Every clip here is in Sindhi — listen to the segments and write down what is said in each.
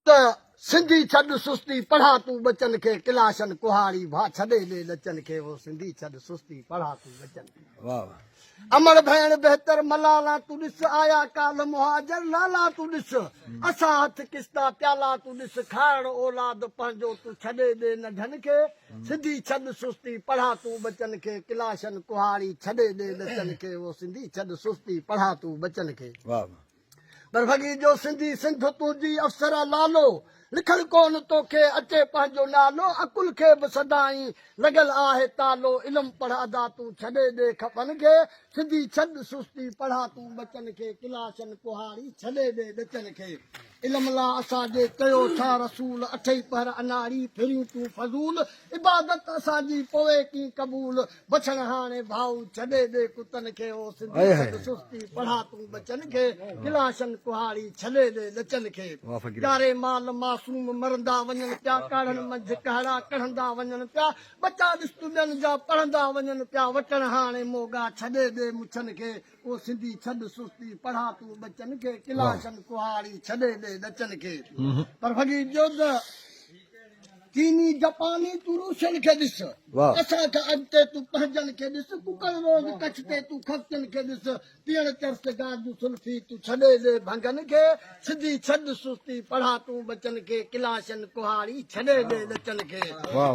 ته سنڌي ڇڏ سستي پڙهان تون ٻچن کي ڪلاشن ڪهاڙي ڀا ڇڏي ڏي لچن کي هو سنڌي ڇڏ سستي پڙهان تون ٻچن کي واهه واهه امڙ ڀيڻ بهتر ملالا تون ڏس آيا ڪالهه مهاجر لالا تون ڏس اسان هٿ ڪستا پيالا تون ڏس کائڻ اولاد پنهنجو تون ڇڏي ڏي ننڍن کي سنڌي ڇڏ سستي پڙهان تون ٻچن کي ڪلاشن ڪهاڙي ڇڏي ڏي لچن کي هو سنڌي ڇڏ سستي پڙهان تون ٻچن کي واهه واهه پر وڳي جو سنڌي سنڌ تون جي افسره لالو لکڻ ڪون توکي اچي پنهنجو نالو عقل کي به سدائين لڳل آهي تالو علم پڙهه ادا تون ڇڏي ڏي کپن کي سڌي ڇڏ سستي پڙهه تون ٻچن کي ڪلاشن ڪهاڙي ڇڏي ڏي ڏچن کي علم لا اسان جي چيو ڇا رسول اٺئي پهر اناڙي ڦرين تون فضول عبادت اسان جي پوء ڪين قبول بڇڻ هاڻي ڀائو ڇڏي ڏي ڪتن کي او سنڌي سڏ سستي پڙها تون ٻچن کي ڪلاشن ڪهاڙي ڇڏي ڏي ڏچن کي ڄاري مال معصوم مرندا وڃن پيا ڪاڙهن منجهه ڪهڙا ڪڙهندا وڃن پيا ٻچا ڏس تون ٻين جا پڙهندا وڃن پيا وٽڻ هاڻي موڳا ڇڏي ڏي مڇن کي او سنڌي ڇڏ سستي پڙها تون ٻچن کي ڪلاشن ڪهاڙي ڇڏي ڏي ڏچن کي پر ڀڳي ڄوڌ چيني جپاني تون روسين کي ڏس اسان کان اڳتي تون پنهنجن کي ڏس ڪڪڙ روز ڪڇ تي تون خرچن کي ڏس پيڻ چرس سگار جون سلفي تون ڇڏي ڏي ڀنگن کي سڌي ڇڏ سستي پڙها تون ٻچن کي ڪلاشن ڪهاڙي ڇڏي ڏي لچن کي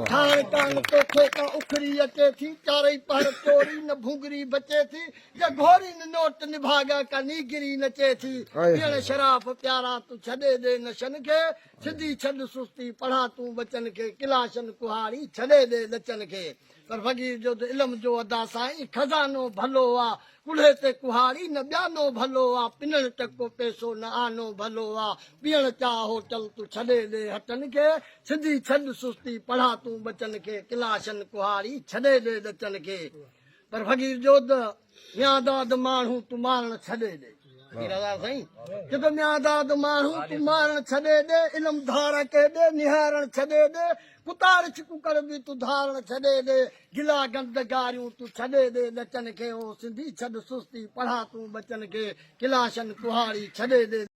ٺاهڻ ڪان توکي ڪا اکري اچي ٿي چارئي پهر ٽوري نه ڀونگري بچي ٿي جا گهوري نه نوٽ نڀاڳا ڪا نيگري نچي ٿي پيڻ شراف پيارا تون ڇڏي ڏي نشن کي سڌي ڇڏ سستي پڙهاء تون ٻچن کي ڪلاشن ڪهاڙي ڇڏي ڏي لچن کي پر فقير جو ته علم جو ادا سائين خزانو ڀلو آ ڪلهي تي ڪهاڙي نه ٻيانو ڀلو آ پنڻ ٽڪو پئسو نه آنو ڀلو آ پيئڻ چاهه هوٽل تون ڇڏي ڏي هٽن کي سڌي ڇڏ سستي پڙهاء تون ٻچن کي ڪلاشن ڪهاڙي ڇڏي ڏي لچن کي پر فقير جو ته ميان داد ماڻهو تون مارڻ ڇڏي ڏي. پير هزار سائين چيو ميان داد ماڻهو تون مارڻ ڇڏي ڏي علم ڌار ڪي ڏي نهارڻ ڇڏي ڏي ڪتا رڇ ڪڪڙ به تون ڌارڻ ڇڏي ڏي گلا گند گاريون تون ڇڏي ڏي ڏچن کي او سنڌي ڇڏ سستي پڙها تون ٻچن کي ڪلاشن ڪهاڙي ڇڏي ڏي.